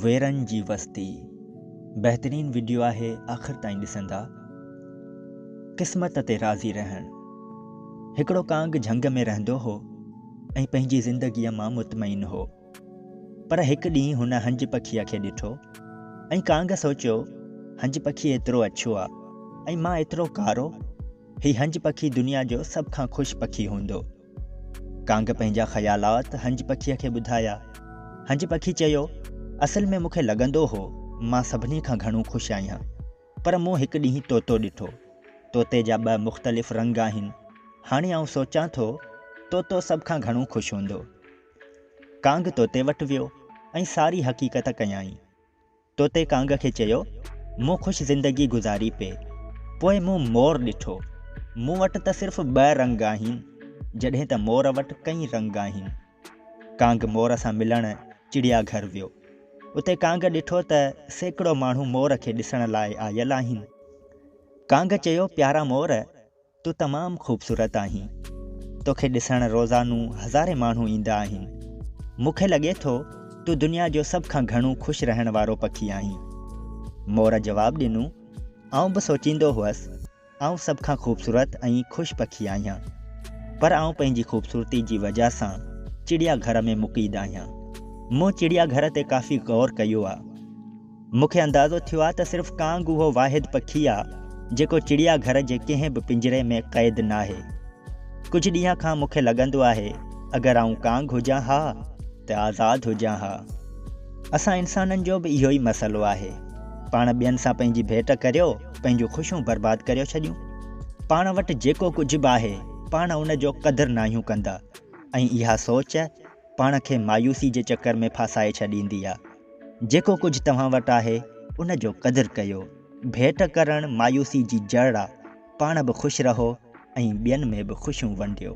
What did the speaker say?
ويرن جي وستي بهترين وڊيو آهي آخر تائين ڏسندا قسمت تي راضي رهڻ هڪڙو ڪانگ جهنگ ۾ رهندو هو ۽ پنهنجي زندگيء مان مطمئن هو پر هڪ ڏينهن هن هنج پکيء کي ڏٺو ۽ ڪانگ سوچيو هنج پکي ايترو اڇو آ ۽ مان ايترو ڪارو هي هنج پکي دنيا جو سڀ کان خوش پکي هوندو. ڪانگ پنهنجا خيالات هنج پکيء کي ٻڌايا. هنج پکي چيو، اصل ۾ مون کي لڳندو هو مان سڀني کان گهڻو خوش آهيان، پر مون هڪ ڏينهن طوطو ڏٺو. طوطي جا ٻه مختلف رنگ آهن. هاڻي آئون سوچان ٿو، طوطو سڀ کان گهڻو خوش هوندو. ڪانگ طوطي وٽ ويو ۽ ساري حقيقت ڪيائين. طوطي ڪانگ کي چيو، مون خوش زندگي گذاري پئي. پوء مون مور ڏٺو. مون وٽ ته صرف ٻه رنگ آهن، جڏهن ته مور وٽ ڪئين رنگ آهن. ڪانگ مور سان ملڻ چڙيا گهر ويو. اتي ڪانگ ڏٺو ته سيڪڙو ماڻهو مور کي ڏسڻ لاء آيل آهن. ڪانگ چيو، پيارا مور! تون تمام خوبصورت آهين توکي ڏسڻ روزانو هزارين ماڻهو ايندا آهن مون کي لڳي ٿو تون دنيا جو سڀ کان گهڻو خوش رهڻ وارو پکي آهين مور جواب ڏنو آئون به سوچيندو هئس آئون سڀ کان خوبصورت ۽ خوش پکي آهيان پر آئون پنهنجي خوبصورتي جي وجه سان چڙيا گهر ۾ مقيد آهيان مون چڙيا گهر تي ڪافي غور ڪيو آ مون کي اندازو ٿيو آهي ته صرف ڪانگ اهو واحد پکي آهي جيڪو چڙيا گهر جي ڪنهن به پڃري ۾ قيد ناهي. ڪجهه ڏينهن کان مون کي لڳندو آهي اگر آئون ڪانگ هجان ها ته آزاد هجان ها. اسان انسانن جو به اهو ئي مسئلو آهي. پاڻ ٻين سان پنهنجي ڀيٽ ڪريو پنهنجون خوشيون برباد ڪريو ڇڏيون. پاڻ وٽ جيڪو ڪجهه به آهي پاڻ ان جو قدر ناهيون ڪندا ۽ اها سوچ پاڻ کي مايوسي جي چڪر ۾ ڦاسائي ڇڏيندي آ. جيڪو ڪجهه توهان وٽ آهي ان جو قدر ڪيو. ڀيٽ ڪرڻ مايوسي جي جڙ آ. پاڻ به خوش رهو ۽ ٻين ۾ به خوشيون ونڊيو.